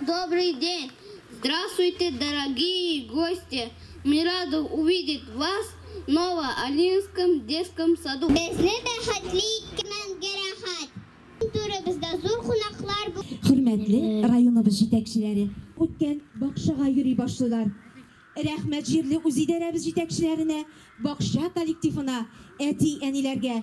Добрый день! Здравствуйте, дорогие гости! Мы рады увидеть вас в Ново-Алинском детском саду. Безне бәхетле иткәнгә рәхәт! Иң түребездә зур кунаклар бу. Хөрмәтле районыбыз җитәкчеләре күптән бакчага йөри башлыйлар. Рәхмәт җирле үзидарәбез җитәкчеләренә, бакча коллективына, әти-әниләргә!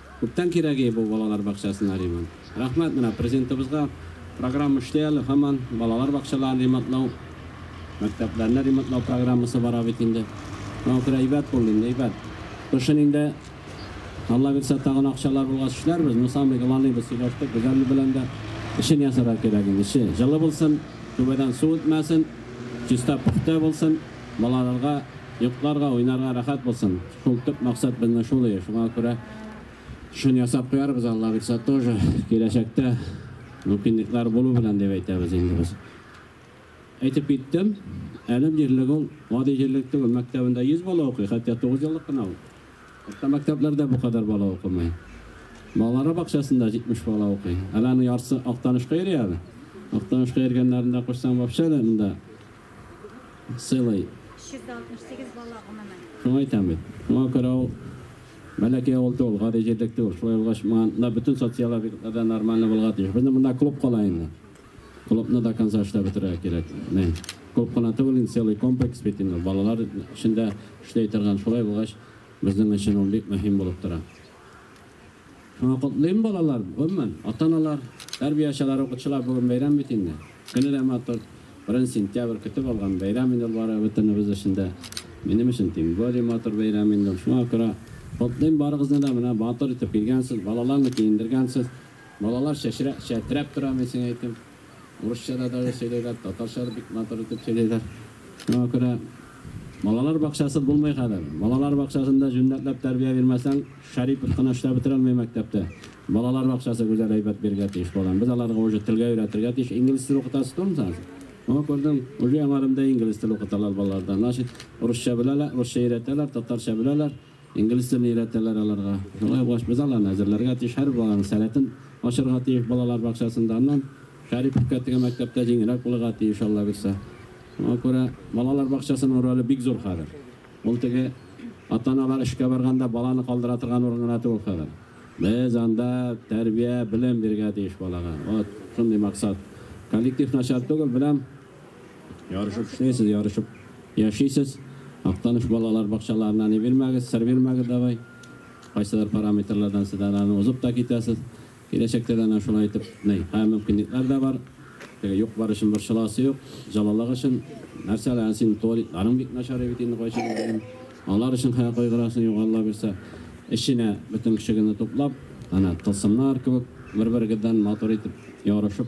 Күптән кирәге бу балалар бакчасына ремонт. Рәхмәт менә Президентыбызга, программа эшли әле һаман, балалар бакчаларын ремонтлау, мәктәпләрне ремонтлау программасы бара бит инде. Шуңа күрә әйбәт булды инде, әйбәт. Кышын инде, Аллабирса, тагын акчалар булгач эшләрбез, ну самый главный без сөйләштек, Гүзәл белән дә, эчен ясарга кирәк инде, эче җылы булсын, түбәдән су үтмәсен, чиста-пөхтә булсын. балаларга йокларга, уйнарга рәхәт булсын. Шул төп максат безнең шул ие, шуңа күрә шуны ясап куярбыз, Алла бирса тоже киләчәктә мөмкинлекләр булу белән дип әйтәбез инде без. Әйтеп киттем, әлем җирлеге ул гади җирлек түгел, мәктәбендә 100 бала укый, хәтта 9 еллык кына ул. Урта мәктәпләрдә бу кадәр бала укымый. Балалар бакчасында 70 бала укый. Әле аның яртысы Актанышка йөри әле. Актанышка йөргәннәрен дә кушсаң, вообще дә монда сыйлый. 368 бала, гомумән. Шуңа әйтәм бит. Шуңа күрә ул бәләкәй авыл түгел, гади җирлек түгел. Шулай булгач, монда бөтен социаль объектлар да нормально булырга тиеш. Безнең монда клуб кала инде. Клубны да конца эшләп бетерергә кирәк. Менә клуб кына түгел, инде целый комплекс бит инде. Балалар өчен дә эшли торган. Шулай булгач, безнең өчен ул бик мөһим булып тора. Шуны котлыйм, балалар! Гомумән, ата-аналар, тәрбиячеләр, укытучылар бүген бәйрәм бит инде. Көне дә матур, беренче сентябрь, көтеп алган бәйрәм инде ул бары бөтенебез өчен дә. Минем өчен тем более матур бәйрәм инде ул. Шуңа күрә котлыйм барыгызны да, менә матур итеп килгәнсез, балаларны киендергәнсез. Балалар чәчрәп, чәтрәп тора, мин сиңа әйтим. Урысча да даже сөйләйләр, татарча да бик матур итеп сөйләйләр. Шуңа күрә балалар бакчасы булмый хәзер. Балалар бакчасында җүнләтләп тәрбия бирмәсәң, Шәрипов кына эшләп бетерә алмый мәктәптә. Балалар бакчасы гүзәл әйбәт бирергә тиеш балам. Без аларга уже телгә өйрәтергә тиеш. Инглиз теле укытасы түгелме соң? Моны күрдем, уже яңарымда инглиз теле укыталар балаларда. Значит, урысча беләләр, урысча өйрәтәләр, татарча беләләр. Инглиз телен өйрәтәләр аларга. Шулай булгач, без аларны әзерләргә тиеш, һәр баланың сәләтен ачырга тиеш балалар бакчасында. Аннан Шәриповка теге мәктәптә җиңелрәк булырга тиеш, аллабирса. Шуңа күрә балалар бакчасының роле бик зур хәзер. Ул теге ата-аналар эшкә барганда баланы калдыра торган урын гына түгел хәзер. Без анда тәрбия, белем бирергә тиеш балага. Вот шундый максат. Коллектив начар түгел, беләм. Ярышып эшлисез, ярышып яшисез. Актаныш балалар бакчаларына ни бирмәгез, сер бирмәгез давай. Кайсыдыр параметрлардан сез әнә аны узып та китәсез. Киләчәктә дә әнә шулай итеп, ней, ә мөмкинлекләр дә бар. Теге юк бар өчен борчыласы юк. Җылылык өчен нәрсә әле, әнә синең туалетларың бик начар бит инде кайчан булган. Алар өчен хәя кайгырасың юк, Алла бирсә. Эченә бөтен көчегезне туплап, әнә тылсымнар кебек бер-берегездән матур итеп ярышып,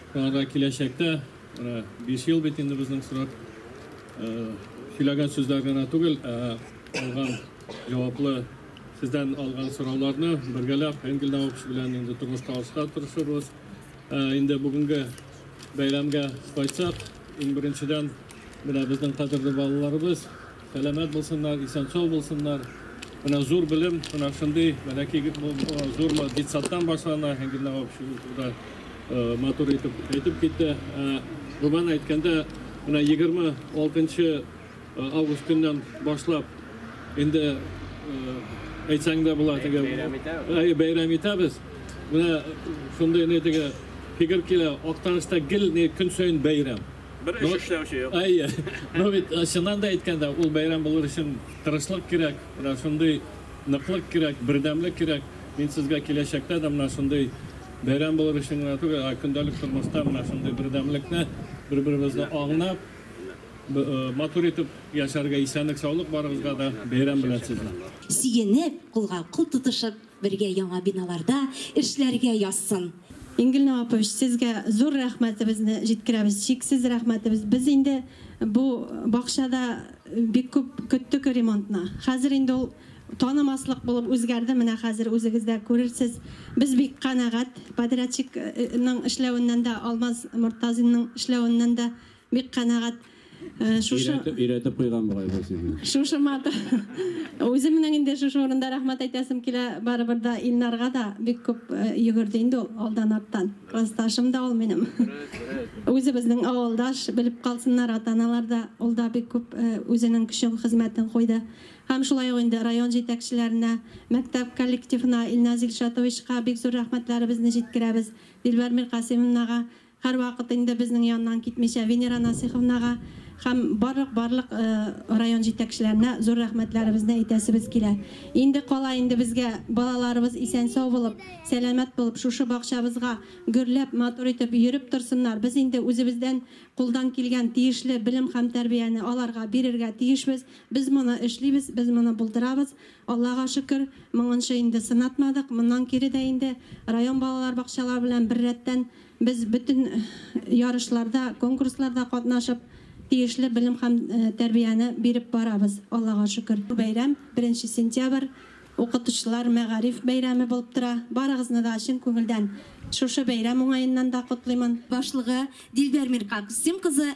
Тагы да киләчәктә, менә биш ел бит инде безнең срок, сөйләгән сүзләр генә түгел, ә алган җаваплы, сездән алган сорауларны бергәләп Энгель Наукс белән инде тормышка ашырга тырышырбыз. Инде бүгенге бәйрәмгә кайтсак, иң беренчедән, менә безнең кадерле балаларыбыз, Сәламәт булсыннар, исән-сау булсыннар. Менә зур белем, менә шундый бәләкәй зур детсадтан башлана, һәм генә общество матур итеп әйтеп китте. Гомумән әйткәндә, менә 26 август көннән башлап инде әйтсәң дә була теге бәйрәм итәбез. Бәйрәм итәбез. Менә шундый ни теге фикер килә, Актанышта гел көн саен бәйрәм. Бер эш эшләүче юк. Әйе. Ну бит, э, чыннан да әйткәндә, ул бәйрәм булыр өчен тырышлык кирәк, менә шундый ныклык кирәк, бердәмлек кирәк. Мин сезгә киләчәктә дә менә шундый бәйрәм булыр өчен генә түгел, ә көндәлек тормышта менә шундый бердәмлекне, бер-беребезне аңлап, э, матур итеп яшәргә, исәнлек-саулык барыгызга да бәйрәм белән сезне! Сөенеп, кулга-кул тотышып, Бергә яңа биналарда эшләргә язсын. Ингелна апа, сезгә зур рәхмәтебезне җиткерәбез, чиксез рәхмәтебез. Без инде бу бакчада бик күп көттек ремонтны. Хәзер инде ул танымаслык булып үзгәрде, менә хәзер үзегез дә күрерсез. Без бик канәгать, подрядчикның эшләвеннән дә, Алмаз Мортазинның эшләвеннән дә Бик канәгать. Шушы өйрәтеп куйган бугай бу сезне. Шушы мат. Үзем менә инде шушы урында рәхмәт әйтәсем килә барыбер да Илнарга да бик күп йөгерде инде ул алдан арттан. Классташым да ул минем. Үзебезнең авылдаш белеп калсыннар ата-аналар да ул да бик күп үзенең көчен хезмәтен куйды. Һәм шулай ук инде район җитәкчеләренә, мәктәп коллективына, Илназ Илшатовичка бик зур рәхмәтләребезне җиткерәбез. Дилбәр Миркасимовнага Һәрвакыт инде безнең яннан китмичә Венера Насыйховнага һәм барлык барлык район җитәкчеләренә зур рәхмәтләребезне әйтәсебез килә. Инде кала инде безгә балаларыбыз исән-сау булып, сәламәт булып, шушы бакчабызга гөрләп, матур итеп йөреп торсыннар. Без инде үзебездән кулдан килгән тиешле белем һәм тәрбияне аларга бирергә тиешбез. Без моны эшлибез, без моны булдырабыз. Аллага шөкер, моңынчы инде сынатмадык. Моннан кире дә инде район балалар бакчалары белән беррәттән Без бөтен ярышларда, конкурсларда катнашып, тиешле белем һәм тәрбияне биреп барабыз, Аллага шөкер. Бу бәйрәм, беренче сентябрь, Укытучылар, мәгариф бәйрәме булып тора. Барыгызны да чын күңелдән шушы бәйрәм уңаеннан да котлыймын. Башлыгы Дилбәр Миркаксим кызы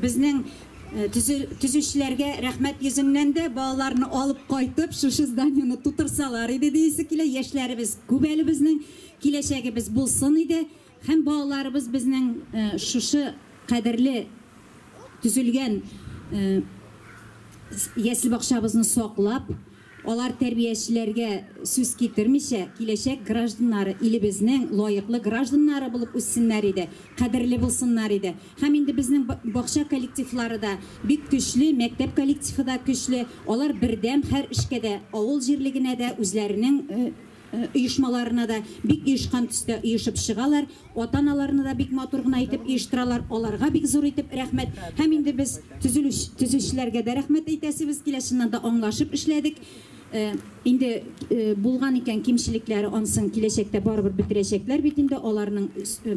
Безнең төзүчеләргә рәхмәт йөзеннән дә, балаларны алып кайтып, шушы зданиене тутырсалар иде диясе килә. Яшьләребез күп әле безнең, киләчәгебез булсын иде һәм балаларыбыз безнең шушы кадерле төзелгән ясле-бакчабызны саклап, Алар тәрбиячеләргә сүз китермичә, киләчәк гражданнары, илебезнең лаеклы гражданнары булып үссеннәр иде, кадерле булсыннар иде. Һәм инде безнең бакча коллективлары да бик көчле, мәктәп коллективы да көчле, алар бердәм һәр эшкә дә, авыл җирлегенә дә үзләренең оешмаларына да бик оешкан төстә оешып чыгалар, ата-аналарны да бик матур гына итеп оештыралар, аларга бик зур итеп рәхмәт, һәм инде без төзүчеләргә дә рәхмәт әйтәсебез килә, чыннан да аңлашып эшләдек, инде булган икән кимчелекләре ансын киләчәктә барыбер бетерәчәкләр бит инде, аларның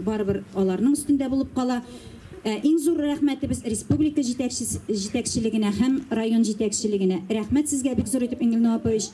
барыбер аларның өстендә булып кала. Ә иң зур рәхмәтебез республика җитәкчелегенә һәм район җитәкчелегенә. Рәхмәт сезгә бик зур итеп Энгель Нуапович.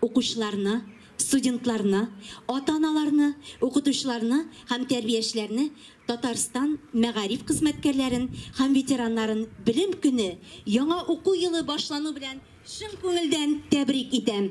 Укучыларны, студентларны, ата-аналарны, укытучыларны һәм тәрбиячеләрне Татарстан мәгариф хезмәткәрләрен һәм ветераннарын Белем көне, яңа уку елы башлану белән чын күңелдән тәбрик итәм!